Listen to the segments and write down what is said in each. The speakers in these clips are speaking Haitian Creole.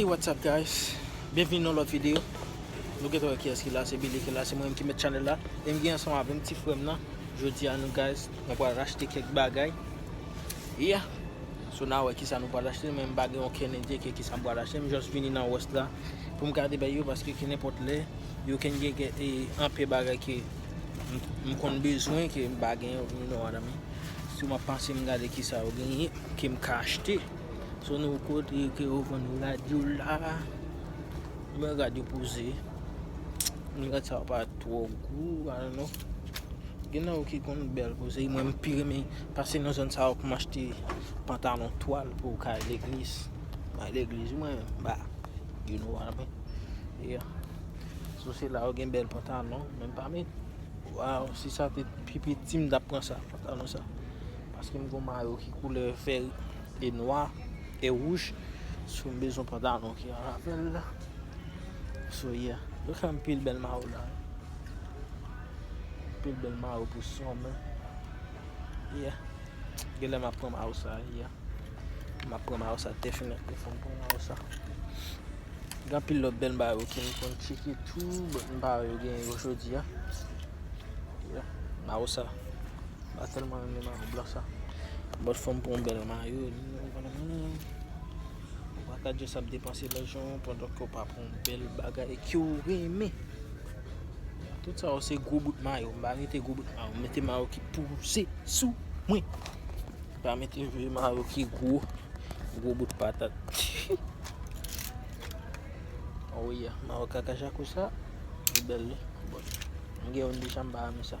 Hey what's up guys Byenvni nan lòt video Nou gentan wè kiyès ki la se Billy ki la se mwen menm ki mèt channel la e m gen ansanm avèm ti frèm nan Jodi a nou guys mwen pral rachte kèk bagay Yeah So na wè kisa nou pral achte men m pa gen okenn ide ke kisa m pral achte m just vini nan west la pou m gade bagay yo paske ke nenpòt lè yo ken gen gen e anpe bagay ke m konn bezwen ke m pa gen yo you know what I mean So m ap pase m gade kisa yo genyen ke m ka achte. Son nou kote ke yo vann rad yo la. Men rad yo poze. Men rad sa yo pa twò gou, I don't know. Gen nan yo ki konn bèl poze. Mwen m pi renmen pase nan zòn sa yo pou m achte pantalon twal pou ka al legliz. Mwen al legliz mwen, ba, you know what I mean. Yeah. So se la yo gen bèl pantalon. Men m pa met. Waww, si sa te pi piti m ta pran sa, pantalon sa. Paske m gon mayo ki koulè vert e nwa e wouj So m bezwen pantalon ki an rapèl So yeah Yo fè anpil bèl mayo la wi Anpil bèl mayo pou So m Yeah Genlè m ap pran mayo sa Yeah M ap pran mayo sa defini Fò m pran mayo sa Gen anpil lòt bèl mayo ke m konn tcheke tou But m pa wè yo genyen yo jodi a Yeah Mayo sa. Mwen telman renmen mayo blan sa. Bòt fòm pou yon bèl mayo. Ou pa ka just ap depanse lajan ou pandan ke w pa pran yon bèl bagay ke w renmen. Tout sa yo se gwo bout mayo. M pa mete gwo bout mayo. M mete mayo ki pouse sou mwen. M pa mete vye mayo ki gwo. Gwo bout patat. Ou ye. Mayo kaka jako sa. Li bèl li. M gen yon deja m pa renmen sa.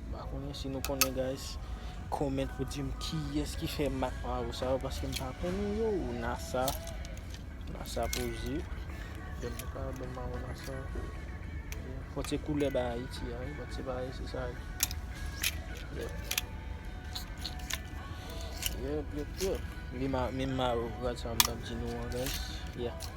M pa konnen si nou konnen guys. Comment pou dim kiyès ki fè mak maron sa yo paske m pa konnen yo. Nasa, nasa poze. Bèl nou ka wè bèl maron nasa. Fòk se koulè bay Ayiti a wi but se pa Ayiti sa a. Yep. Yep, yep, yep. Li menm maron rad sa m tap di nou an guys. Yeah.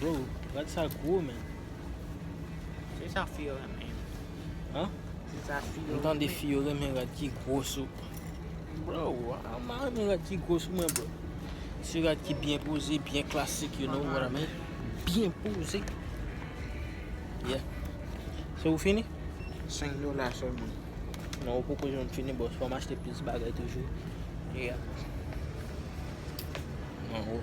Bro, rad sa gwo men. Se sa fi yo renmen. An? Se sa fi yo renmen. M tande fi yo renmen rad ki gwo sou. Bro, a ma renmen rad ki gwo sou mwen bro. Se rad ki byen poze, byen klasik, you know what I mean? Byen poze. Yeah. Se ou fini? 5 dola sou mwen. Non, ou poko jwenn fini bro. Fò m achte plis bagay toujou. Yeah. Nan ou.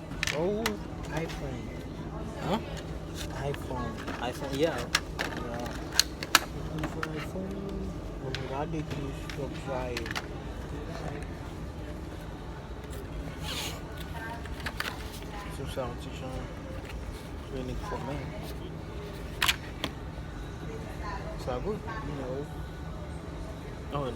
Ou iphone Hein? iphone iphone yeah iphone iphone Bon mwen gade ki Top Flyer Sou sa yon ti jan Vini k fòme Sa good? No An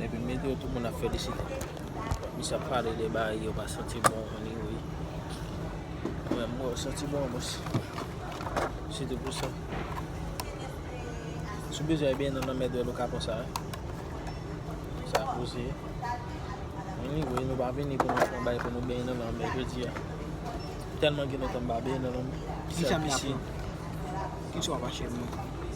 Epi m mete yo tout moun ap felisite. Misye ap pale de bagay yo pa santi bon anyway. Mwen menm mwen santi bon anplis. Se te pou sa. Sou bezwen ebyen nan lanmèd wè loka konsa. Sa koze. Anyway nou pa vini pou nou pran bay pou nou benyen nan lanmè jodi a. Telman gen lontan m pa benyen nan lanmè. Ki sa m ta pran? Ki sa w ap achte pou mwen?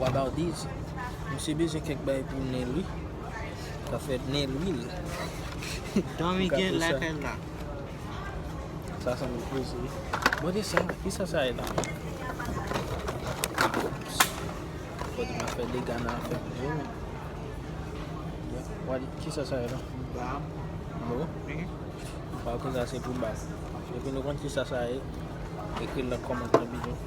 Wabardise misye bezwen kèk bagay pou nenl wi Ka fè nenl wil Domi gen lakay la. Sa sanble koze wi. Bon de sa kisa sa ye la menm. Fodi map fè dega nan afè kouzin an. Wadi kisa sa ye la. Bab. Bon. Mpa konn sa se pou bab. Depi nou konn kisa sa ye ekri nan kòmantè bidon.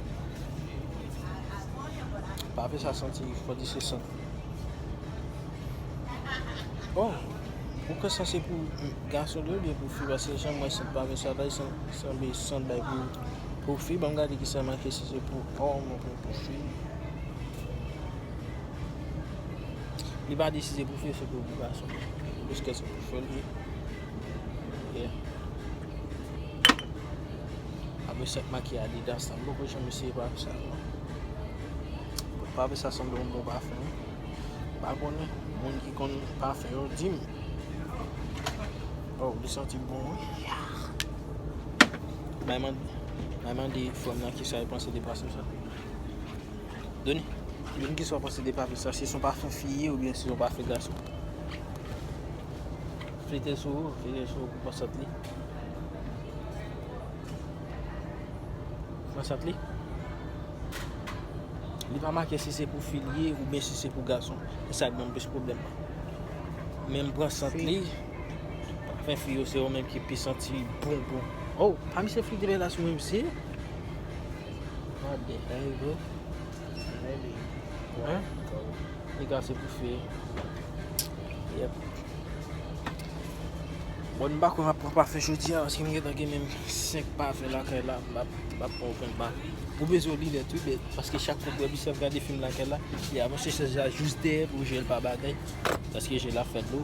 Pafe sa santi fò di se sant. Bon, ou kwè sa se pou gason li oubyen pou fi paske jan mwen sant pafe sa la li sanble sant bay pou pou fi banm gade ki sa make si se pou òm oubyen pou fi. Li pa di si se pou fi ou se pou gason. Jiskèske pou fèl ye. Yeah. A mesye ap makiye adidas la. M poko janm eseye pafe sa yo. Pafe sa sanble yon bon pafe. M pa konnen. Moun ki konn pafe yo di m. Waw li santi bon wi. Bay mande fanm nan kisa li panse de pafe sa. Doni. Doni kisa ou panse de pafe sa. Se son pafe fi ye ou byen se son pafe gason. Flite sou ou. Flite sou ou pou pansant li. Nan sant li. Li pa make si se pou fi li ye oubyen si se pou gason. E sa k ban m plis pwoblèm. Men m pran sant li. Pafen fi yo se yo menm ki pi santi bon bon. Oh, pa misye fouti bel ass mwen mesye. What the hell bro. Hein? Li ka se pou fe. Yep. Bon m pa kwè m ap pran pafe jodi a paske m gentan gen menm 5 pafe lakay la m pa pran okenn pafe. Ou bezwen linèt wi bèt paske chak fwa bèt misye ap gade fim lakay la li avanse chèz la jis dèyè pou je l pa batay paske je l ap fè dlo.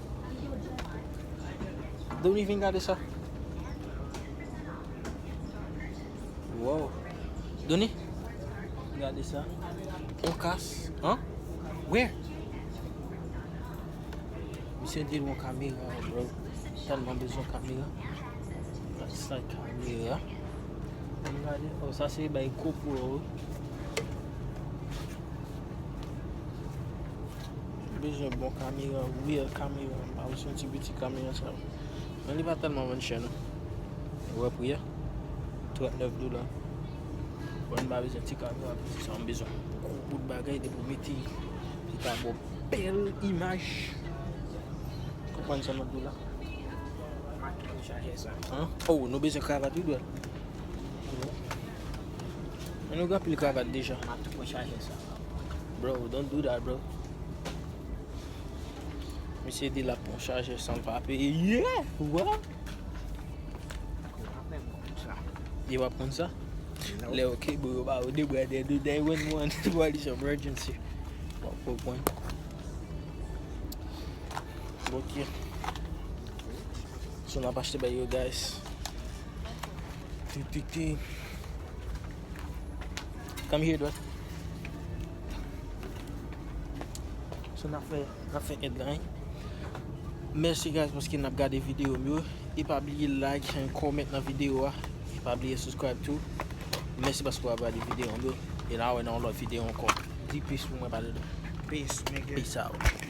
Doni vin gade sa. Wow. Doni. Gade sa. On kas. Hein? Where? Misye di yon kamera bro. Tèlman bezon kamera. That's like kamera. Mwen gade. Oh, sa se bay kou pou yo. M bezwen bon kamera real kamera m pa vle se yon ti piti kamera sa yo men li pa tèlman vann chè non ou wè pri a 39 dola bon m pa vle se yon ti kamera piti sa yo m bezwen gwo bout bagay depi ou mete li ta ba w bèl imaj konprann sa map di w la ou nou bezwen kravat wi bròh. Mwen nou gen pil kravat deja. Map tou pran chajè sa. Bro, don't do that bro. Misye di lap pran chajè san pa peye. Yeah! What? Yo wap pran sa? Le ok bro, yo ba ou de bra de de de wen wan. Wap li chan bro jen si. Wap pou pran. Bokye. Sou nan pa chete bay yo guys. Ti ti ti. Come here dwet. So nap fè, nap fè ed lan. Merci guys parce que nap gade vidéo m yo. E pa bliye like and comment nan vidéo a. E pa bliye subscribe too. Merci parce que wap gade vidéo m yo. E nan wè nan lòt vidéo ankò. Di peace pou mwen badou. Peace nigga. Peace out.